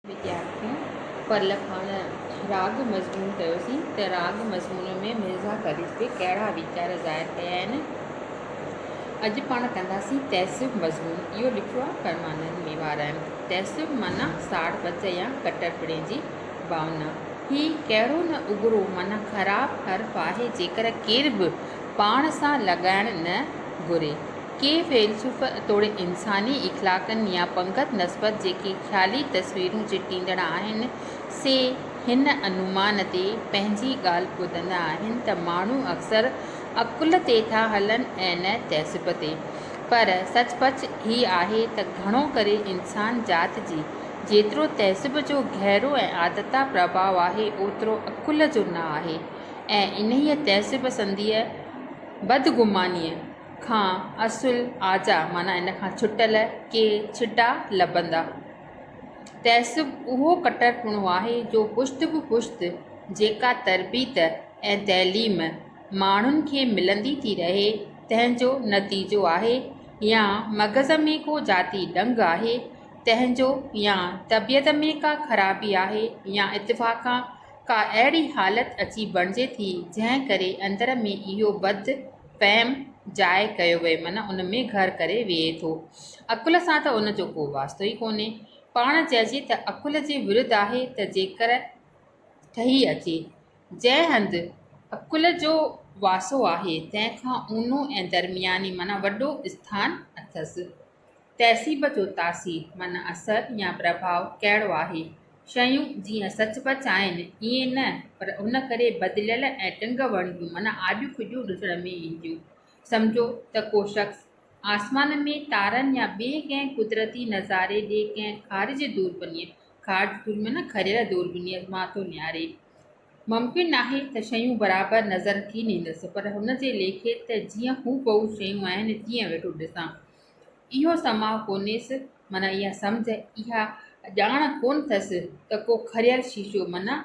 ويديارٿين پرل کان راڳ مضمون ڪيوسين ته راڳ مضمون ۾ مرزا قريش تي ڪهڙا ويچار ظاهر ڪيا آهن. اڄ پاڻ ڪنداسين تعصب مضمون. اهو لکيو آهي فرمانند ميوارائين، تعصب معنيٰ ساڙ پچ يا ڪٽرپڻي جي ڀاونا. هي ڪهڙو نه اگرو معنيٰ خراب حرف آهي جيڪر ڪير به پاڻ سان لڳائڻ نه گهري. ڪي فيلسوف توڙي انساني اخلاقن يا پنگت نسبت جيڪي خيالي تصويرون چٽيندڙ آهن، سي هن انومان تي پنهنجي ڳالهه ٻڌندا آهن ته ماڻهو اڪثر عقل تي ٿا هلن ۽ نه تهذب تي. پر سچ پچ هي آهي ته گهڻو ڪري انسان ذات جي جيترو تهذب جو گهرو ۽ آڌتا پرڀاء آهي اوترو عقل جو نه آهي ۽ انهيء تهذب سنديء بدگمانيء کان اصل آجا معنيٰ ان کان ڇٽل ڪي ڇٽا لڀندا. تعصب اهو ڪٽرپڻو آهي جو پشت به پشت جيڪا تربيت ۽ تعليم ماڻهن کي ملندي ٿي رهي تنهن جو نتيجو آهي يا مغز ۾ ڪو ذاتي ڏنگ آهي تنهن جو يا طبيعت ۾ ڪا خرابي آهي يا اتفاقا ڪا اهڙي حالت اچي بڻجي ٿي جنهن ڪري اندر ۾ اهو بد فهم جاء ڪيو ويو معنيٰ ان ۾ گهر ڪري ويهي ٿو. عقل سان ته ان جو ڪو واسطو ئي ڪونهي. پاڻ چئجي ته عقل جي ورد آهي ته جيڪر ٺهي اچي. جنهن هنڌ عقل جو واسو آهي تنهن کان اونهو ۽ درمياني معنيٰ وڏو اسٿان اٿس. تهذيب جو تاثير معنيٰ اثر يا پرڀاء ڪهڙو آهي؟ شيون جيئن سچ پچ آهن ائين نه پر ان ڪري بدليل ۽ ٽنگ وڻگيون معنيٰ آڏيون ڦڏيون ڏسڻ ۾ اينديون. سمجهو ته ڪو شخص آسمان ۾ تارن يا ٻئي ڪنهن قدرتي نظاري ڏي ڪنهن خارجي دوربينيء، خارج دوربين معنيٰ کريل دوربينيء، مان ٿو نهاري. ممڪن ناهي ته شيون برابر نظر ٿي ڏيندس، پر هن جي ليکي ته جيئن هوبهو شيون آهن تيئن ويٺو ڏسان. اهو سماء ڪونهيس، معنيٰ اها سمجهه، اها ڄاڻ ڪونه ٿس ته ڪو کريل شيشو، معنيٰ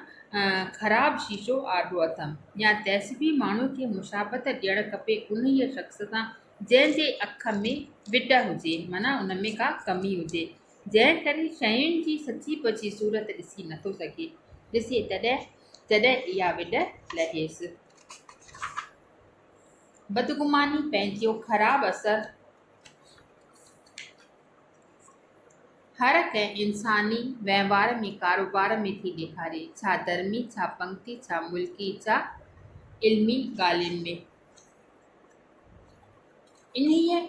خراب شيشو آڏو اٿم، يا تيسڀي ماڻهوء کي مشابهت ڏيڻ کپي انهيء شخص سان جنهن جي اک ۾ وڏ هجي، معنيٰ ان ۾ ڪا ڪمي هجي، جنهن ڪري شين جي سچي پچي صورت ڏسي نه ٿو سگهي، ڏسي تڏهن جڏهن اها وڏ لهيس. بدگماني پنهنجو خراب اثر هر ڪنهن انساني وهنوار ۾ ڪاروبار ۾ ٿي ڏيکاري، ڇا ڌرمي، ڇا پنگتي، ڇا ملڪي، ڇا علمي ڳالهين ۾. انهيء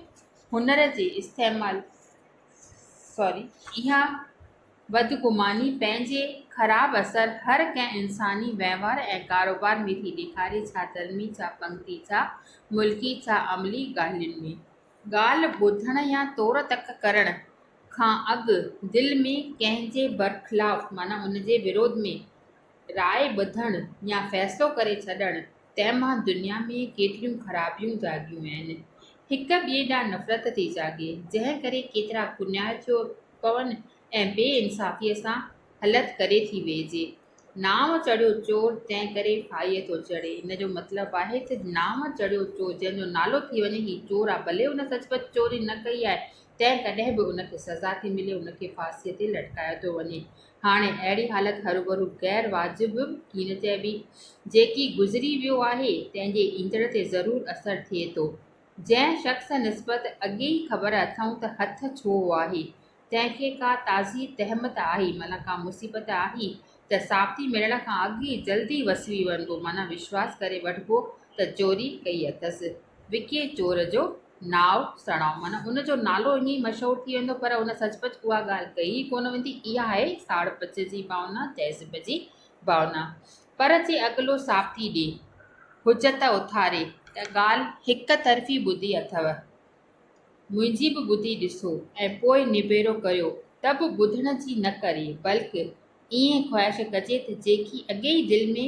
هنر جي استعمال اها بدگماني پنهنجي خراب اثر هر ڪنهن انساني وهنوار ۽ ڪاروبار ۾ ٿي ڏيکاري ڇا ڌرمي ڇا پنگتي ڇا ملڪي ڇا عملي ڳالهين ۾. ڳالهه ٻڌڻ يا تور تڪ ڪرڻ کان اڳ دل ۾ ڪنهن جي برخلاف معنيٰ ان جي وروڌ ۾ راء ٻڌڻ يا فيصلو ڪري ڇڏڻ تنهن مان دنيا ۾ ڪيتريون خرابيون جاڳيون آهن. هڪ ٻئي ڏانهن نفرت ٿي جاڳي، جنهن ڪري ڪيترا ڪنيار ٿيو پون ۽ بي انصافيء سان هلت ڪري ٿي ويهجي. نانء چڙهيو چور، تنهن ڪري ڦاهيء ٿو چڙهي. ان جو مطلب آهي ته نانء چڙهيو چور، جنهن جو نالو ٿي وڃي هي چور آهي، ڀلي هن سچ پچ چوري نه ڪئي آهي، تنهن ڪڏهن به ان کي سزا ٿي ملي، ان کي ڦاسيء تي لٽڪايو ٿو وڃي. هاڻي اهڙي حالت هروڀرو غير واجب به ٿي نه چئبي. جيڪي گذري ويو آهي، تنهن جي ايندڙ تي ضرور اثر ٿئي ٿو. جنهن شخص نسبت اڳي ئي خبر اٿئون ته هٿ ڇو آهي، تنهن کي ڪا تازي تهمت آهي، معنيٰ ڪا مصيبت آهي، ته ثابتي ملڻ کان اڳ ئي جلدي وسري وڃبو، معنيٰ وشواس ڪري وٺبو ته چوري ڪئي اٿس. وڪي چور جو. ناو سڻائو معنيٰ ان جو نالو ائين ئي مشهور ٿي ويندو پر ان سچ پچ اها ڳالهه ڪئي ئي ڪونه ويندي اها آهي ساڙ پچ جي ڀاونا تهذيب جي ڀاونا پر جي اڳلو ثابتي ڏي حجت اٿاري ته ڳالهه هڪ طرفي ٻڌي اٿو منهنجي به ٻڌي ڏسو ۽ پوء نبيرو ڪريو ته به ٻڌڻ جي نه ڪري بلڪ ائين خواهش ڪجي ته جيڪي اڳي ئي دل ۾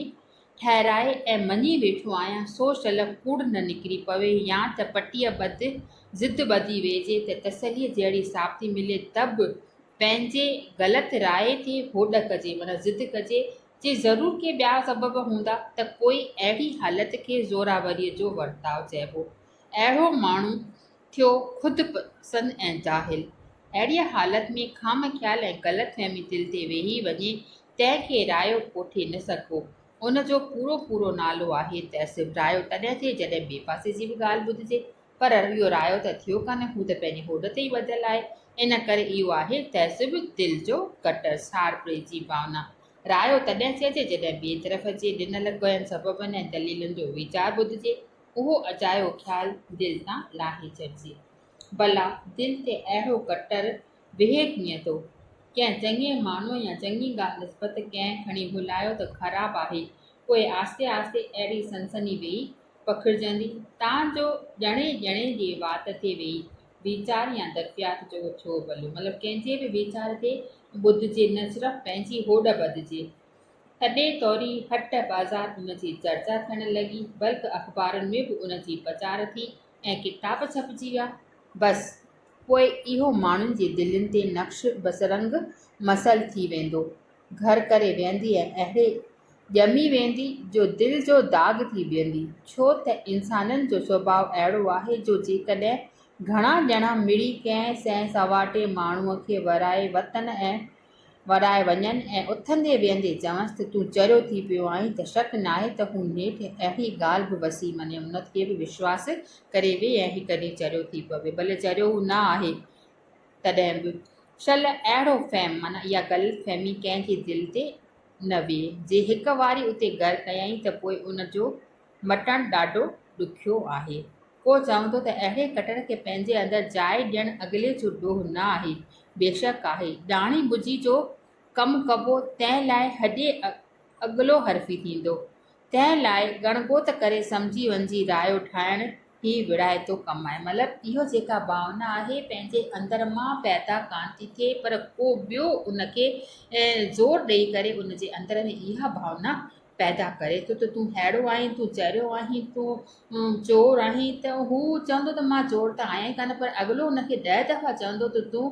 ٺهرائي ۽ مڃي ويٺو آهيان سو شل ڪوڙ نه نڪري پوي يا ته پٽيء ٻڌ ضد ٻڌي ويهجي ته تسليء جهڙي ثابتي ملي ته به پنهنجي غلط راء تي هوڏ ڪجي معنيٰ ضد ڪجي جي ضرور ڪي ٻيا سبب هوندا ته پوء اهڙي حالت کي زورآوريء جو ورتاء چئبو اهڙو ماڻهو ٿيو خود پسند ۽ جاهل. اهڙيء حالت ۾ خام خيال ۽ غلط فهمي دل تي ويهي وڃي تنهن کي رايو ڪوٺي نه سگهبو. ان جو پورو پورو نالو آهي ته صرف رايو تڏهن ٿئي جڏهن ٻئي پاسي جي به ڳالهه ٻڌجي. پر اهو رايو ته ٿيو ڪانه هو ته پنهنجي هوڏ تي ئي ٻڌل آهي. ان ڪري اهو آهي تهذب دل جو گٽر ساڙ پري جي ڀاونا. رايو تڏهن چئجي جڏهن ٻئي طرف جي ڏنل ڪوين سببن ۽ دليلن جو ويچار ٻڌجي. اهو اجايو خيال دل تان لاهي ڇڏجي. ڀلا دل تي اهڙو ڪٽر ويهي ڪيئن ٿو؟ ڪنهن چڱي ماڻهوء يا چڱي ڳالهه نسبت ڪنهن کڻي ڀلايو ته خراب آهي، پوء آهستي آهستي اهڙي سنسني ويئي پکڙجندي، تان جو ڄڻي ڄڻي جي وات تي ويئي ويچار يا درفيات جو ڇو ڀليو مطلب ڪنهن جي به ويچار تي ٻڌجي نه صرف پنهنجي هوڏ ٻڌجي. تڏهن ٿوري هٽ بازار ان جي چرچا ٿيڻ لڳي، بلڪ اخبارن ۾ به ان جي پچار ٿي ۽ ڪتاب ڇپجي ويا. بس، پوء اهو ماڻهن جي دلين تي نقش بسرنگ مثل ٿي ويندو، گهر ڪري ويهندي ۽ اهڙي ڄمي ويندي جو دل جو داغ ٿي بيهندي، ڇو ته انسانن جو سڀاء اهڙو آهي جو جيڪڏهن گهڻا ڄڻا مڙئي ڪنهن سنهه سنواٽي ماڻهوء کي ورائي وطن ۽ وراء وڃن ۽ اٿندي ويهندي چونس ته تون چريو ٿي پيو آهين ته شڪ ناهي ته هو نيٺ اهڙي ڳالهه به وسيم ۽ امنت کي به وشواس ڪري ويهي ۽ هڪ ڏينهن چريو ٿي پوي ڀلي چريو هو نه آهي تڏهن به شل اهڙو فهم معنيٰ اها غلط فهمي ڪنهن جي دل تي نه ويهي جي هڪ واري اتي گهر ڪيائين ته پوء ان جو مٽڻ ڏاڍو ڏکيو آهي. ڪو چوندو ته اهڙي ڪٽر کي پنهنجي اندر جاء ڏيڻ اڳلي جو ڏوهه نه آهي. بيشڪ آهي. ڏاڻي ٻجي جو ڪم ڪبو تنهن لاء هڏي اڳلو حرفي ٿيندو. تنهن لاء ڳڻڳوت ڪري سمجهي وڃجي رايو ٺاهڻ هي ويڙهائتو ڪم آهي. مطلب اهو جيڪا ڀاونا آهي پنهنجي اندر مان پيدا ڪانه ٿي ٿئي پر ڪو ٻيو ان کي زور ڏئي ڪري ان جي اندر ۾ اها ڀاونا پيدا ڪري ٿو ته تون هيڙو آهين، تون چريو آهين، تون چور آهين ته هو چوندو ته مان چور ته آهيان ئي ڪانه پر اڳلو هن کي ڏهه دفعا چوندو ته تون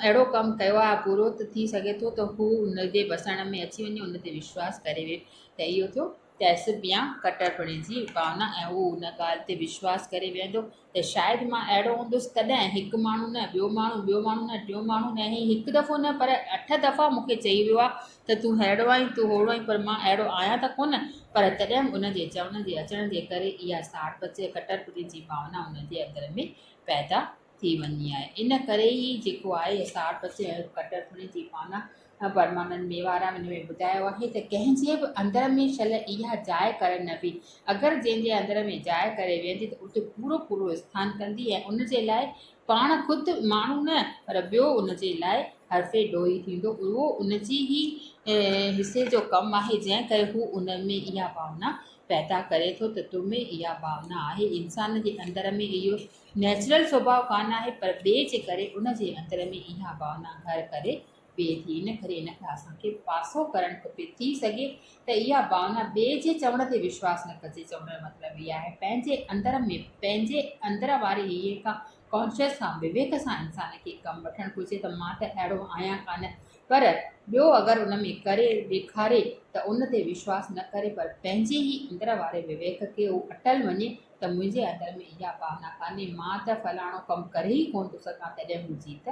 اهڙو ڪم ڪيو آهي برو ته ٿي سگهي ٿو ته هو هن جي وسڻ ۾ اچي وڃي هن تي وشواس ڪري ويهي ته اهو ٿيو تهذيب يا ڪٽرپڻي جي ڀاونا ۽ هو هن ڳالهه تي وشواس ڪري ويهندو ته شايد مان اهڙو هوندس تڏهن هڪ ماڻهو نه ٻيو ماڻهو ٻيو ماڻهو نه ٽيون ماڻهو نه هي هڪ دفعو نه پر اٺ دفعا مون کي چئي ويو آهي ته تون ههڙو آهين تون هوڙو آهين پر مان اهڙو آهيان ته ڪونه پر تڏهن به ان جي چوڻ جي اچڻ جي ڪري اها ساڙ پچ ۽ ڪٽرپڻي جي ڀاونا ان جي اندر ۾ پيدا ٿي وڃي آهي ان ڪري ئي جيڪو آهي ساڙ پچ ۽ ڪٽرپڻي جي ڀاونا پرمانند ميوارام ان ۾ ٻڌايو آهي ته ڪنهن جي به اندر ۾ شل اها جاء ڪرڻ نه وي اگر جنهن جي اندر ۾ جاء ڪري ويهندي ته اتي پورو پورو اسٿان ڪندي ۽ ان جي لاء پاڻ خود ماڻهو نه پر ٻيو ان جي لاء حرف ڊوهي ٿيندو اهو ان جي هي حصي جو ڪم آهي جنهن ڪري هو ان ۾ اها ڀاونا پيدا ڪري ٿو ته تو ۾ اها ڀاونا آهي انسان جي اندر ۾ اهو نيچرل سوڀاء ڪانه آهي پر ٻئي جي ڪري ان جي اندر ۾ اها ڀاونا گهر ڪري پئي ٿي ان ڪري ان کان اسان کي پاسو ڪرڻ کپي ٿي سگهي ته اها ڀاونا ٻئي جي چوڻ تي وشواس نه ڪجي چوڻ جو مطلب اها آهي پنهنجي اندر ۾ پنهنجي اندر واري هيء کان ڪانشيس کان وويڪ سان انسان کي ڪم وٺڻ گهرجي ته مان ته اهڙو آهيان ڪانه پر ٻيو اگر ان ۾ ڪري ڏيکاري ته ان تي وشواس نه ڪري پر پنهنجي ئي اندر واري وويڪ کي هو اٽل وڃي ته منهنجي اندر ۾ اها ڀاونا ڪانهي مان ته فلاڻو ڪم ڪري ئي ڪونه ٿو سگهان تڏهن منهنجي ته